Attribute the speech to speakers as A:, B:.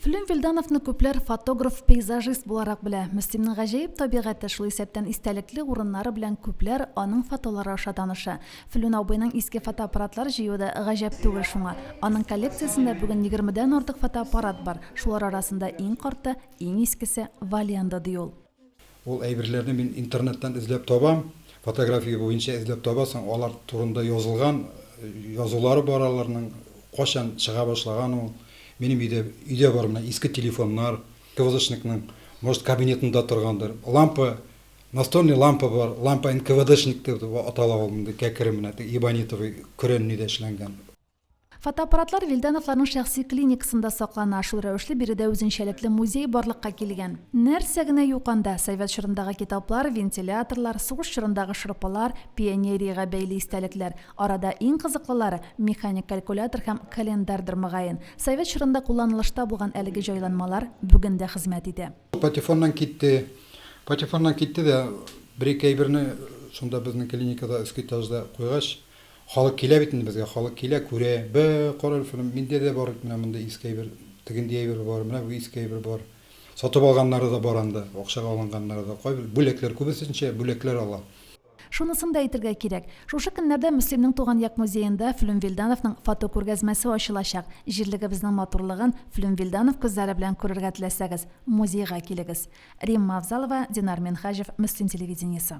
A: Флим Вильдановны күпләр фотограф-пейзажист буларак белә. Мөслимнең гаҗәеп табигате, шул исәптән истәлекле урыннары белән күпләр аның фотолары аша таныша. Флүн абыйның иске фотоаппаратлар җыюы да гаҗәп түгел шуңа. Аның коллекциясендә бүген егермедән артык фотоаппарат бар, шулар арасында иң карты, иң искесе Валианда, ди ул. Ул әйберләрне
B: мин интернеттан эзләп табам, фотография буенча эзләп табасың, алар турында язылган язулары бар аларның, кайчан чыга башлаган ул, минем өйдә, өйдә бар менә иске телефоннар, КВДшникның, может, кабинетында торгандыр, лампа, настольный лампа бар, лампа НКВДшник дип атала ул, мондый кәкре менә, ибонитовый, көрәннедә эшләнгән. Фотоаппаратлар
A: Вильдановларның шәхси клиникасында саклана, шул рәвешле биредә үзенчәлекле музей барлыкка килгән. Нәрсә генә юк анда, совет чорындагы китаплар, вентиляторлар, сугыш чорындагы шырпылар, пионериягә бәйле истәлекләр. Арада иң кызыклылары, механик калькулятор һәм календардыр, мөгаен. Совет чорында кулланылышта булган әлеге җайланмалар бүген дә хезмәт итә. Патефоннан китте.
B: Патефоннан китте дә, бер-ике әйберне шунда безнең клиникада, өске этажда куйгач, Халык килә бит инде безгә, халык килә, күрә, Бе, кара әле шуны, миндә дә бар бит менә мондый иске әйбер, тегенди әйбер бар, менә бу иске әйбер бар. Сатып алганнары да бар анда, акчага алынганнары да, кайбер, бүләкләр, күбесенчә бүләкләр ала. Шунысын да
A: әйтергә кирәк, шушы көннәрдә Мөслимнең туган як музеенда Флүм Вилдановның фотокүргәзмәсе ачылачак. Җирлегебезнең матурлыгын Флүм Вилданов күзләре белән күрергә теләсәгез, музейга килегез. Римма Авзалова, Динар Минһаҗев, Мөслим телевидениесе.